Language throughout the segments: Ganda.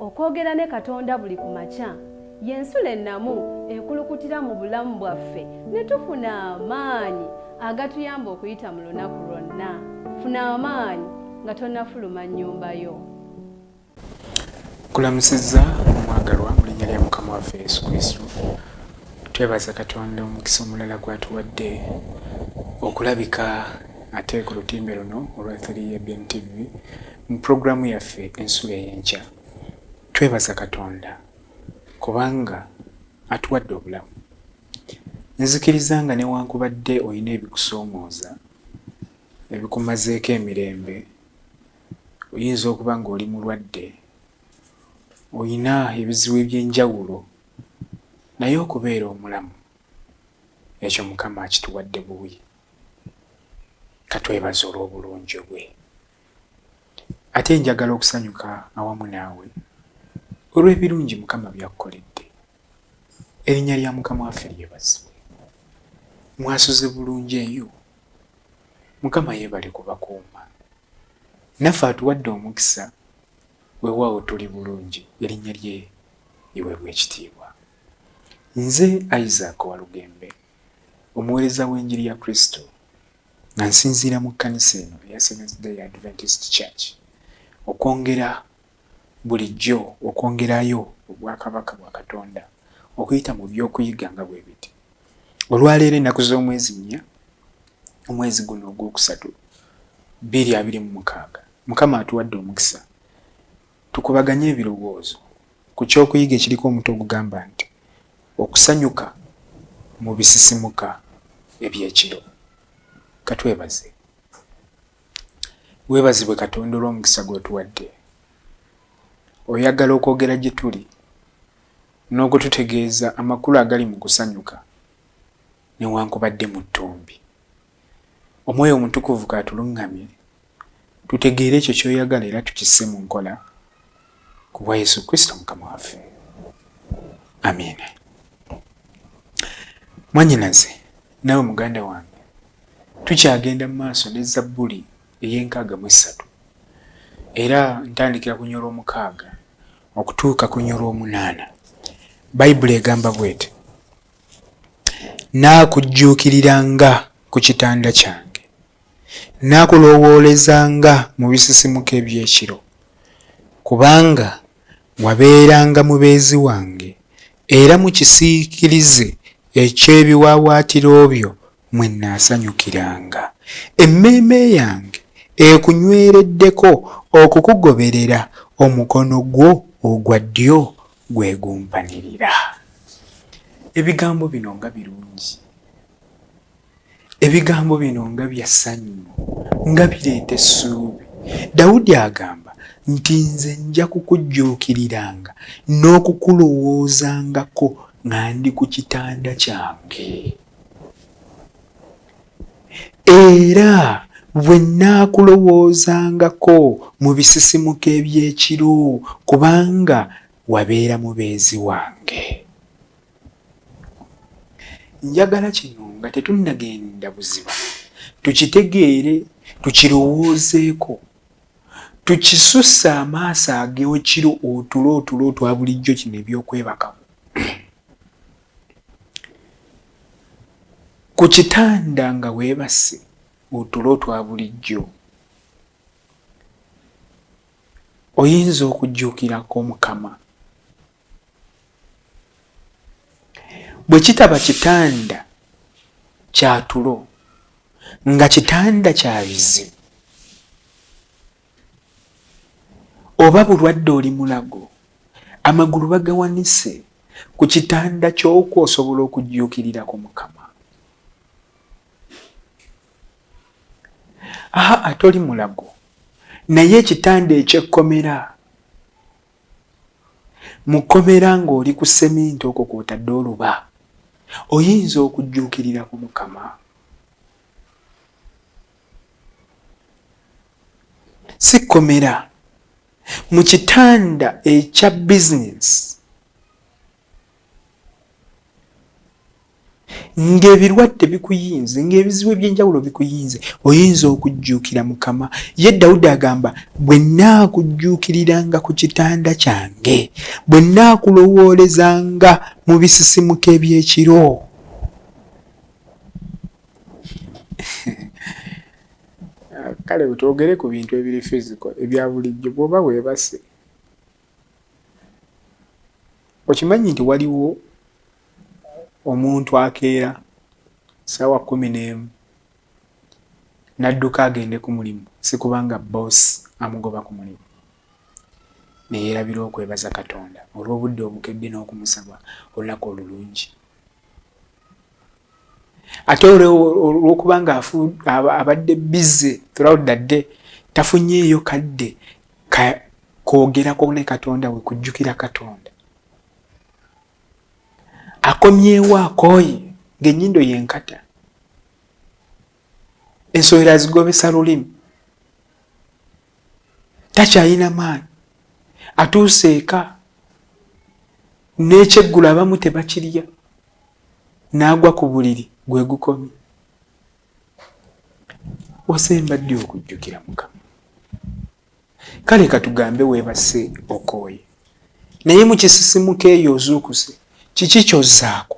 okwogera ne katonda buli ku makya y'ensula ennamu ekulukutira mu bulamu bwaffe ne tufuna amaanyi agatuyamba okuyita mu lunaku lwonna funa amaanyi nga tonafuluma nnyumba yo kulamusizza omwagalwa mu linnya lya mukama waffe yesu kristo twebaza katonda omukisa omulala gwatuwadde okulabika ate ku lutimbe luno olwa 3ABN TV mu pulogulaamu yaffe ensulo ey'enkya twebaza Katonda kubanga atuwadde obulamu. Nzikiriza nga newankubadde olina ebikusoomooza ebikumazeeko emirembe, oyinza okuba ng'oli mulwadde, olina ebizibu eby'enjawulo, naye okubeera omulamu ekyo Mukama akituwadde buwi. katwebaza olw'obulungi bwe ate njagala okusanyuka awamu naawe olw'ebirungi mukama byakkoledde erinnya lya mukama waffe lyebazibwe mwasuze bulungi eyo mukama yeebale kubakuuma naffe atuwadde omukisa wewaawo tuli bulungi erinnya lye iwebwa ekitiibwa nze isaac walugembe omuweereza w'enjiri ya Kristo nga nsinziira mu kkanisa eno eya Seventh Day Adventist Church okwongera bulijjo okwongerayo obwakabaka bwa Katonda okuyita mu by'okuyiga nga bwe biti. Olwaleero ennaku z'omwezi nnya omwezi guno ogwokusatu bbiri abiri mu mukaaga Mukama atuwadde omukisa Tukubaganye ebirowoozo ku ky'okuyiga ekiriko omutwe ogugamba nti, Okusanyuka mu Bisisimuka eby'Ekiro. Ka twebaze. Weebazibwe Katonda olw'omukisa gw'otuwadde. Oyagala okwogera gye tuli n'okututegeeza amakulu agali mu kusanyuka newankubadde mu ttumbi? omwoyo omutukuvu kaatuluŋŋamye tutegeere ekyo kyoyagala era tukisse mu nkola ku bwa yesu kristo mukama waffe amiina mwanyinaze nawe muganda wange tukyagenda mu maaso ne zabbuli ey'enkaaga mu essatu era ntandikira ku nyolwa omukaaga okutuuka ku nyolwa omunaana bayibuli egamba bwete Nnaakujjuukiriranga ku kitanda kyange, Nnaakuloowoolezanga mu bisisimuka eby'ekiro, Kubanga wabeeranga mubeezi wange, Era mu kisiikirize eky'ebiwaawaatiro byo mwe nnaasanyukiranga. Emmeeme yange ekunywereddeko okukugoberera, omukono gwo ogwa ddyo gwe gumpanirira. Ebigambo bino nga birungi! Ebigambo bino nga bya ssanyu, nga bireeta essuubi. Dawudi agamba nti, Nze nja kukujjuukiriranga n'okukulowoozangako nga ndi ku kitanda kyange. era bwe nnaakulowoozangako mu bisisimuka eby'ekiro, kubanga wabeera mubeezi wange. Njagala kino nga tetunnagenda buziba tukitegeere, tukirowoozeeko, tukisusse amaaso ag'ekiro, otulo otulo otwa bulijjo, kino eby'okwebakamu. ku kitanda nga weebase otulo twa bulijjo oyinza okujjuukirako omukama bwe kitaba kitanda kyatulo nga kitanda kya bizibu oba bulwadde oli mulago amagulu bagawanise ku kitanda kyokwo osobola okujjuukirirako mukama aha ate oli mulago naye ekitanda ekyekkomera mukkomera ng'oli ku seminti okwo kwotadde oluba oyinza okujjuukirirako mukama si kkomera mu kitanda ekya bizinesi ng'ebirwadde bikuyinze ng'ebizibu eby'enjawulo bikuyinze oyinza okujjuukira mukama ye dawudi agamba bwe nnaakujjuukiriranga ku kitanda kyange bwe nnaakulowoolezanga mu bisisimuka eby'ekiro kale twogere ku bintu ebiri fiziko ebya bulijjo bwoba webase okimanyi nti waliwo omuntu akeera sawa kumi n'emu nadduka agende ku mulimu sikubanga boosi amugoba ku mulimu neyerabira okwebaza katonda olw'obudde obukedde n'okumusaba olunaku olulungi ate olwokuba nga abadde bize throughout the day tafunyeeyo kadde kwogerako ne katonda we kujjukira katonda akomyewo akooye ng'ennyindo yenkata ensowera zigobesa lulimi takyalina maanyi atuuse eka n'ekyeggulo abamu tebakirya n'agwa ku buliri gwe gukomye osemba ddi okujjukira mukama kale katugambe weebase okooye naye mu kisisimuka eyo ozuukuse kiki kyozzaako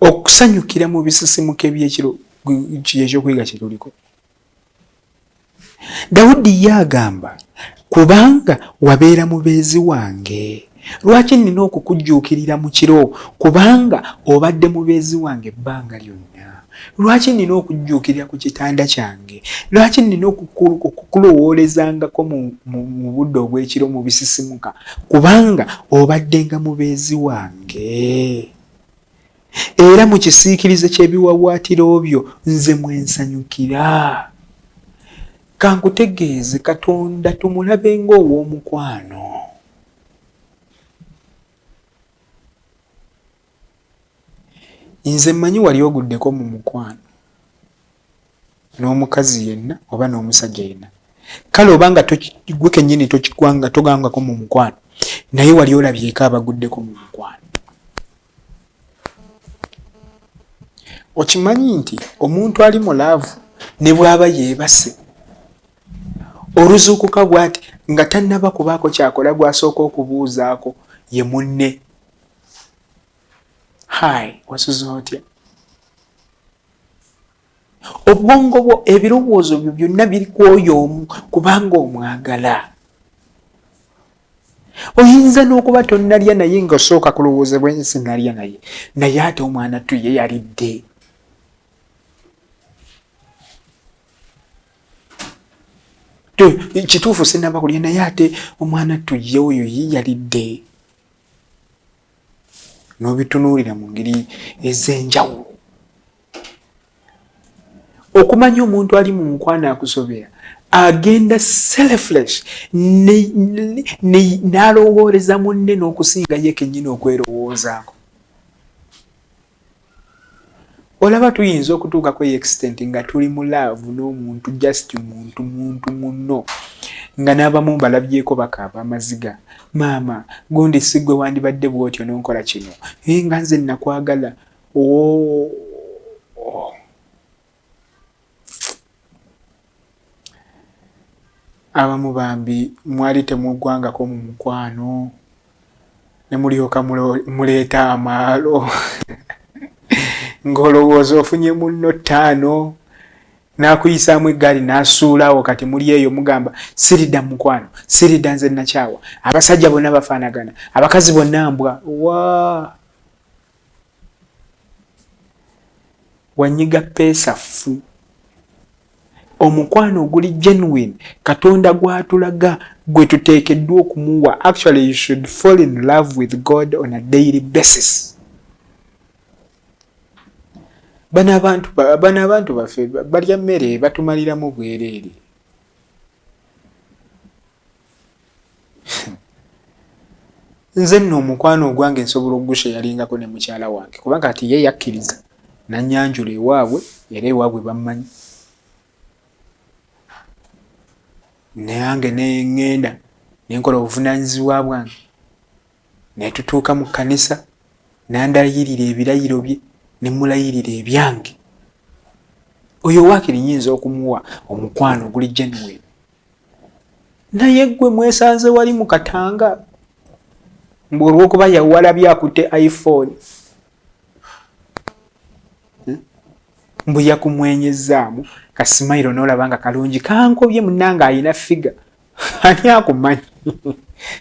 okusanyukira mu bisisimuka ebyekiro kyekyokuyiga kyetuliko dawudi ye agamba kubanga wabeera mubeezi wange lwaki nina okukujjuukirira mu kiro kubanga obadde mubeezi wange ebbanga lyonna lwaki nina okujjuukirira ku kitanda kyange lwaki nina okukulowoolezangako mu budde obw'ekiro mu bisisimuka kubanga obaddenga mubeezi wange era mu kisiikirize ky'ebiwawaatiro byo nze mwensanyukira kankutegeeze katonda tumulabe ng'ow'omukwano Nze mmanyi wali oguddeko mu mukwano n'omukazi yenna oba n'omusajja yenna kale oba nga gwe kennyini tokigwanga togangako mu mukwano naye wali olabyeko abaguddeko mu mukwano okimanyi nti omuntu ali mu laavu ne bw'aba yeebase oluzuukuka bwati nga tannaba kubaako kyakola gw'asooka okubuuzaako ye munne hai wasuze otya obwongo bwo ebirowoozo byo byonna biri kwoyo omu kubanga omwagala oyinza n'okuba tonnalya naye nga osooka kulowooza bwensi nalya naye naye ate omwana tuye yalidde kituufu sinaba kulya naye ate omwana tuye oyo ye yalidde n'obitunuulira mu ngeri ez'enjawulo okumanya omuntu ali mu mukwano akusobera agenda selflesh n'alowoolereza munne n'okusinga ye kennyini okwerowoozaako olaba tuyinza okutuuka ku extent nga tuli mu laavu n'omuntu just muntu muntu munno nga n'abamu mbalabyeko bakaaba amaziga maama gundi sigwe wandibadde bwotyo nonkola kino naye nga nze nakwagala oo oh. abamu bambi mwali temugwangako mu mukwano ne mulyoka muleeta amaalo ng'olowooza ofunye munno ttaano n'akuyisaamu eggaali n'asuulawo kati muli eyo mugamba sirida mukwano sirida nze nakyawa abasajja bonna bafaanagana abakazi bonna mbwa waa wanyiga peesa ffu omukwano oguli genuine katonda gwatulaga gwe tuteekeddwa okumuwa actually you should fall in love with god on a daily basis bano abantu bano abantu baffe balya mmere batumaliramu bwereere nze nno omukwano ogwange nsobola ogusha yalingako ne mukyala wange kuba kati ye yakkiriza nanyanjula ewaabwe era ewaabwe bammanyi nange neŋŋenda nenkola obuvunaanyizibwa bwange netutuuka mu kkanisa nandayirira ebirayiro bye ne mulayirira ebyange oyo waakiri nyinza okumuwa omukwano oguli genuwini naye gwe mwesanze wali mu katanga mbu olwokuba yawalabye akutte iphone hmm? mbu yakumwenyezaamu kasimairo nolaba nga kalungi kankobye munange ayina figa ani akumanyi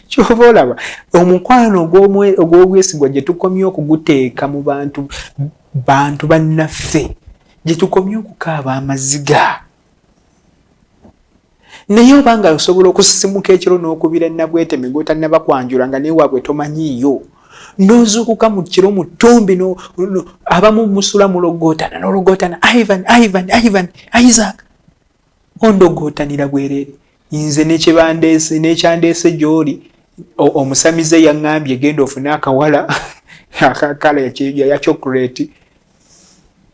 kyova olaba omukwano ogw'obwesigwa gye tukomye okuguteeka mu bantu bantu bannaffe gye tukomye okukaaba amaziga naye oba nga osobola okusisimuka ekiro n'okubira nabweteme gwotannaba kwanjula nga newaabwe tomanyiiyo nozuukuka mu kiro mu ttumbi abamu musula mulogootana nologootana ivan ivan ivan isaac ondogootanira bwereere nze nekyebandeese nekyandeese gyoli omusamize yaŋŋambye genda ofune akawala akakala yakyokuleti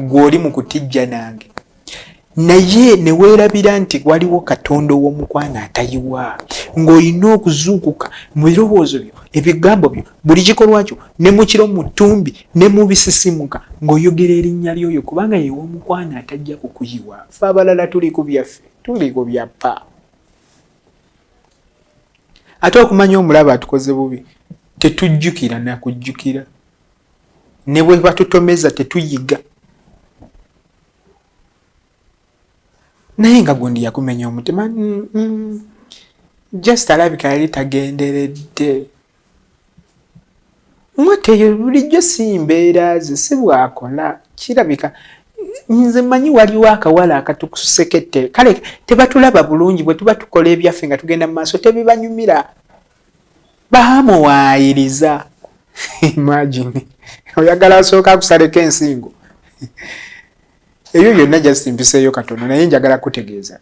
gw'oli mu kutijja nange naye ne weerabira nti waliwo katonda ow'omukwano atayiwa ng'olina okuzuukuka mu birowoozo byo ebigambo byo buli kikolwa kyo ne mu kiro mu ttumbi ne mu bisisimuka ng'oyogera erinnya ly'oyo kubanga yew'omukwano atajja kukuyiwa fe abalala tuli ku byaffe tuli ku byappa ate okumanya omulaba atukoze bubi tetujjukira nakujjukira ne bwe batutomeza tetuyiga naye nga gundi yakumenya omutima mm, mm. just alabika yali tagenderedde mwateyo bulijjo si mbeera ze si bwakola kirabika nze manyi waliwo akawala akatukusekete kale tebatulaba bulungi bwe tuba tukola ebyaffe nga tugenda mu maaso tebibanyumira baamuwaayiriza imagine oyagala asooka akusaleko ensingo ebyo byonna just mpiseeyo katono naye njagala kutegeeza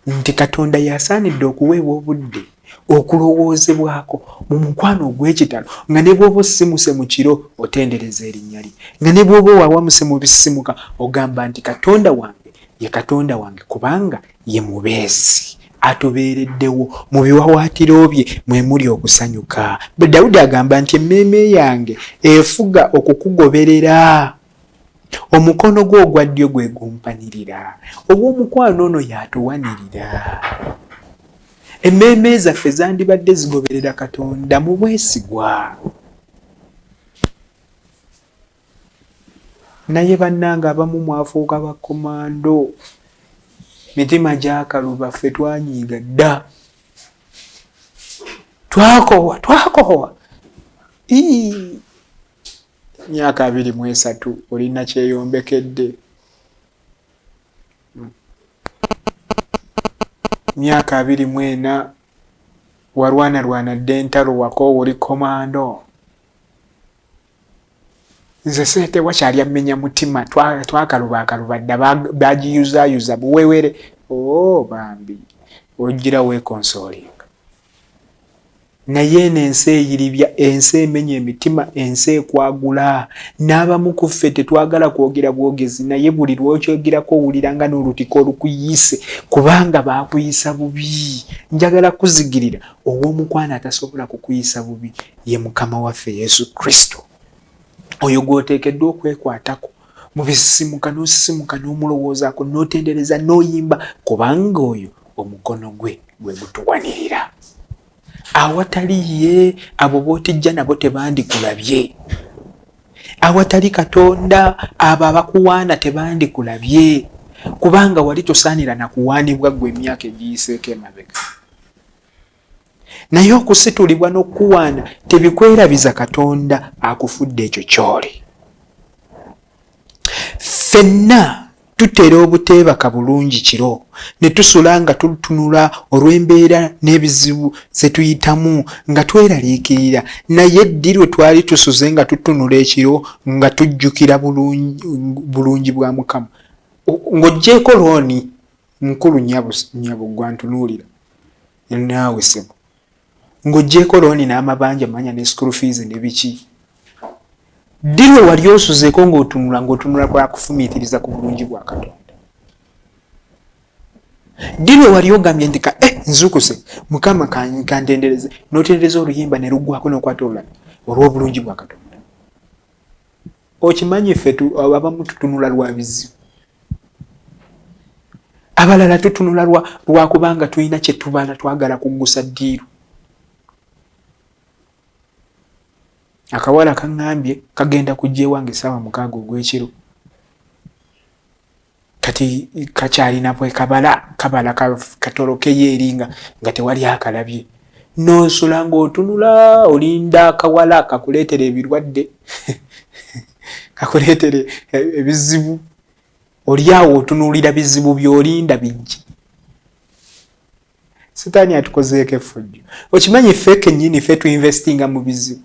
nti katonda yasaanidde okuweebwa obudde okulowoozebwako mu mukwano ogw'ekitalo nga ne bwoba osimuse mu kiro otendereza erinnya lye nga ne bwoba owawamuse mu bisimuka ogamba nti katonda wange ye katonda wange kubanga ye mubeezi atubeereddewo mu biwawaatiro bye mwe muli okusanyuka bwe dawudi agamba nti emmeeme yange efuga okukugoberera omukono gwe ogwa ddyo gwe gumpanirira ogw'omukwano ono y'atuwanirira emmeeme zaffe zandibadde zigoberera katonda mu bwesigwa naye bannange abamu mwafuuka bakomando mitima gyakaluba ffe twanyiiga dda twakowa twakowa myaka abiri mu esatu olina kyeyombekedde myaka abiri mu ena walwanalwana dde entalo wakoowa oli komando nze sente wakyali ammenya mutima twakaluba akaluba dda bagiyuzayuza buwewere o oh, bambi ojjira wekonsolinga naye eno ensi eyiribya ensi emenya emitima ensi ekwagula n'abamu ku ffe tetwagala kwogera bwogezi naye buli lwokyogerako owulira nga n'olutika olukuyise kubanga baakuyisa bubi njagala kuzigirira ow'omukwano atasobola kukuyisa bubi ye mukama waffe yesu kristo oyo gwoteekeddwa okwekwatako mu bisisimuka n'osisimuka n'omulowoozaako n'otendereza n'oyimba kubanga oyo omukono gwe gwe gutuwanirira awatali ye abo bootijja nabo tebandikulabye awatali katonda abo abakuwaana tebandikulabye kubanga wali tosaanira na kuwaanibwa ggwe emyaka egiyiseeko emabega naye okusitulibwa n'okukuwaana tebikwerabiza katonda akufudde ekyo kyoli fenna tutera obuteebaka bulungi kiro ne tusula nga tutunula olw'embeera n'ebizibu ze tuyitamu nga tweraliikirira naye ddi lwe twali tusuze nga tutunula ekiro nga tujjukira bulungi bwa mukama ng'oggyeeko looni mukulu nyabo nyabo gwantunuulira naawe sebo ng'ogyeko looni n'amabanja manya ne school fees ne biki ddi lwe wali osuzeeko ng'otunula ng'otunula kwakufumiitiriza ku bulungi bwa katonda ddi lwe wali ogambye nti ka eh, nzukuse mukama kantendereze n'otendereza oluyimba ne luggwako n'okwata olulala olw'obulungi bwa katonda okimanyi ffe abamu tutunula lwa bizibu abalala tutunula lwakubanga tulina kyetubala twagala kuggusa ddiiru akawala kaŋambye kagenda kujja ewange esaawa mukaaga ogw'ekiro kati kakyalina bwekabala kabala katolokeyo eri nga nga tewali akalabye nonsula ngaotunula olinda akawala kakuleetera ebirwadde kakuleetera ebizibu olyawo otunuulira bizibu byolinda bijje sitaani atukozeeko effujjo okimanyi ffe kenyini ffe tuinvestinga mu bizibu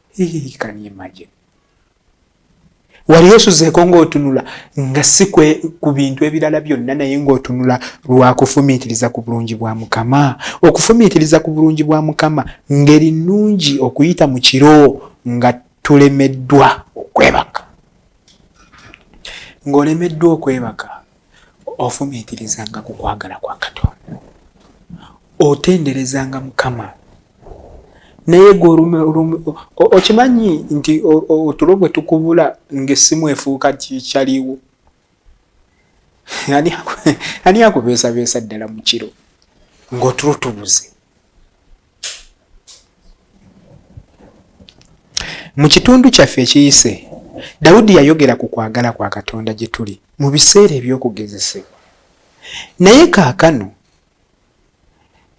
Hii, can you imagine? wali osuzeeko ng'otunula nga si ku bintu ebirala byonna naye ng'otunula lwakufumiitiriza ku bulungi bwa mukama okufumiitiriza ku bulungi bwa mukama ngeri nnungi okuyita mu kiro nga tulemeddwa okwebaka ng'olemeddwa okwebaka ofumiitirizanga ku kwagala kwa katonda otenderezanga mukama naye gwe okimanyi nti otulo gwe tukubula ngaessimu efuuka kikyaliwo ani akubeesabeesa ddala mu kiro ng'otulo tubuze Mu kitundu kyaffe ekiyise, Dawudi yayogera ku kwagala kwa Katonda gye tuli mu biseera eby'okugezesebwa. Naye kaakano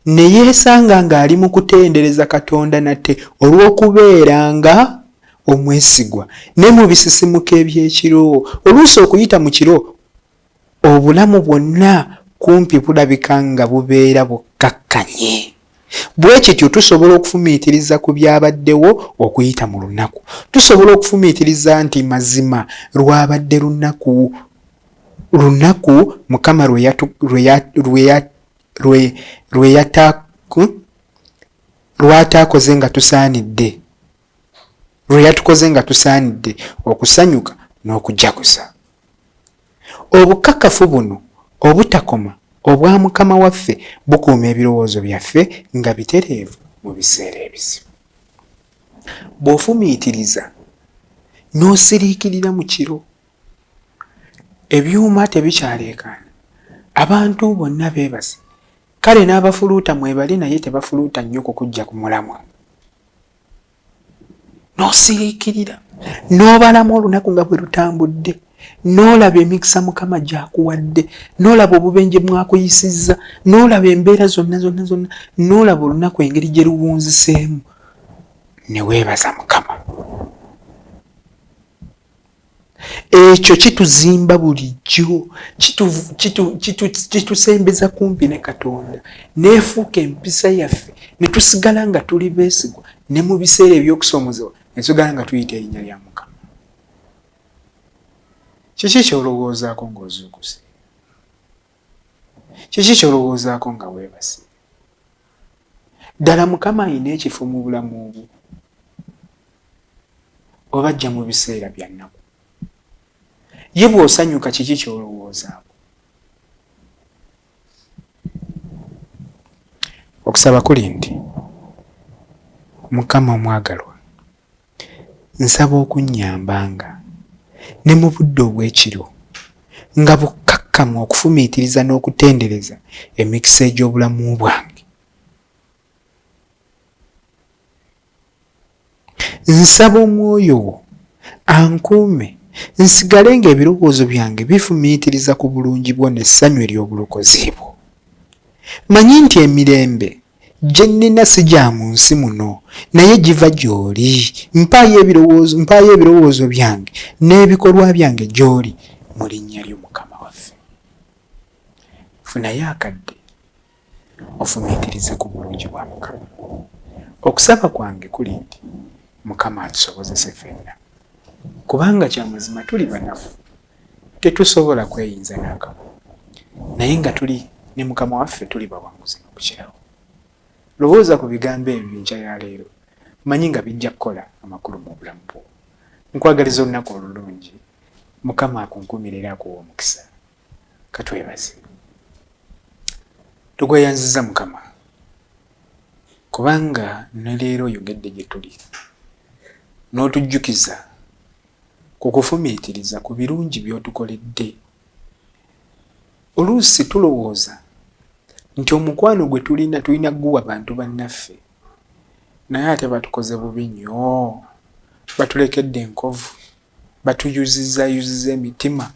ne yeesanga ng'ali mu kutendereza Katonda nate olw'okubeera nga omwesigwa ne mu bisisimuka eby'ekiro. Oluusi okuyita mu kiro obulamu bwonna kumpi bulabika nga bubeera bukkakkanye. Bwe kityo tusobola okufumiitiriza ku byabaddewo okuyita mu lunaku. Tusobola okufumiitiriza nti mazima lwabadde lunaku lunaku Mukama lw'ataakoze nga tusaanidde. lwe yatukoze nga tusaanidde okusanyuka n'okujaguza obukakafu buno obutakoma obwa mukama waffe bukuuma ebirowoozo byaffe nga bitereevu mu biseera ebizibu bw'ofumiitiriza n'osiriikirira mu kiro ebyuma tebikyaleekaana abantu bonna beebase kale n'abafuluuta mwebali naye tebafuluuta nnyo kukujja ku mulamwa n'osiriikirira n'obalamu olunaku nga bwe lutambudde n'olaba emikisa mukama gyakuwadde n'olaba obubenje mwakuyisizza n'olaba embeera zonna zonna zonna n'olaba olunaku engeri gye luwunziseemu ne weebaza mukama ekyo kituzimba bulijjo kitusembeza kumpi ne katonda nefuuka empisa yaffe netusigala nga tuli besigwa ne mu biseera ebyokusoomozewa netusigala nga tuyita erinnya lya mukama kiki kyolowoozaako ngaozuukuse Kiki ky'olowoozaako nga weebase? Ddala Mukama alina ekifo mu bulamu bwo? Oba ajja mu biseera bya nnaku? Ye bw'osanyuka kiki ky'olowoozaako? Okusaba kuli nti, Mukama omwagalwa, Nsaba okunnyambanga, ne mu budde obw'ekiro, nga bukkakkamu okufumiitiriza n'okutendereza emikisa egy'obulamu bwange. Nsaba Omwoyo Wo ankuume nsigale nga ebirowoozo byange bifumiitiriza ku bulungi Bwo n'essanyu ery'obulokozi Bwo. Mmanyi nti emirembe Gye nnina si gya mu nsi muno, naye giva gy'oli. Mpaayo ebirowoozo, mpaayo ebirowoozo byange n'ebikolwa byange gy'oli mu linnya lyo Mukama waffe. Funayo akadde ofumiitirize ku bulungi bwa Mukama. Okusaba kwange kuli nti Mukama atusobozese ffenna, kubanga kya mazima tuli banafu. tetusobola kweyinza nakamu naye nga tuli ne mukama waffe tuli bawanguzi nokukirawo lowooza ku bigambo ebyo enkya ya leero manyi nga bijja kukola amakulu mu bulamu bwo nkwagaliza olunaku olulungi mukama akunkumira era akuwa omukisa katwebaze tugweyanziza mukama kubanga ne leero oyogedde gye tuli n'otujjukiza ku kufumiitiriza ku birungi by'otukoledde. Oluusi tulowooza nti omukwano gwe tulina tulina kuguwa bantu bannaffe, naye ate batukoze bubi nnyo. Batulekedde enkovu, batuyuzizaayuziza emitima,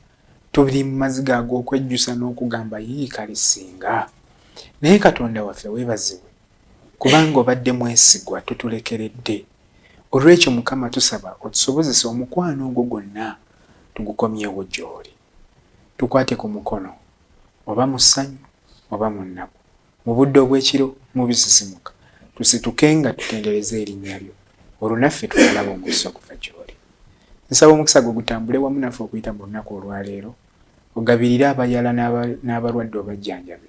tuli mu maziga ag'okwejjusa n'okugamba, Yii kale ssinga! Naye Katonda waffe, weebazibwe! kubanga obadde mwesigwa totulekeredde. Olw'ekyo Mukama tusaba otusobozese omukwano ogwo gwonna tugukomyewo gy'oli. Tukwate ku mukono, oba mu ssanyu oba mu nnaku, mu budde obw'ekiro, mu bisisimuka, tusitukenga tutendereze erinnya lyo, olwo naffe tunaalaba omukisa okuva gy'oli. Nsaba omukisa gwo gutambule wamu naffe okuyita mu lunaku olwaleero, ogabirire abayala n'abalwadde obajjanjabe.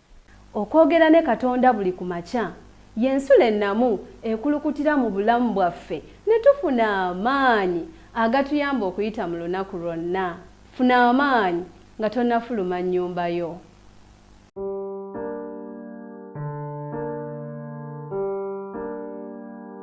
Okwogera ne Katonda buli ku makya ye nsulo ennamu ekulukutira mu bulamu bwaffe ne tufuna amaanyi agatuyamba okuyita mu lunaku lwonna. Funa amaanyi nga tonnafuluma nnyumba yo.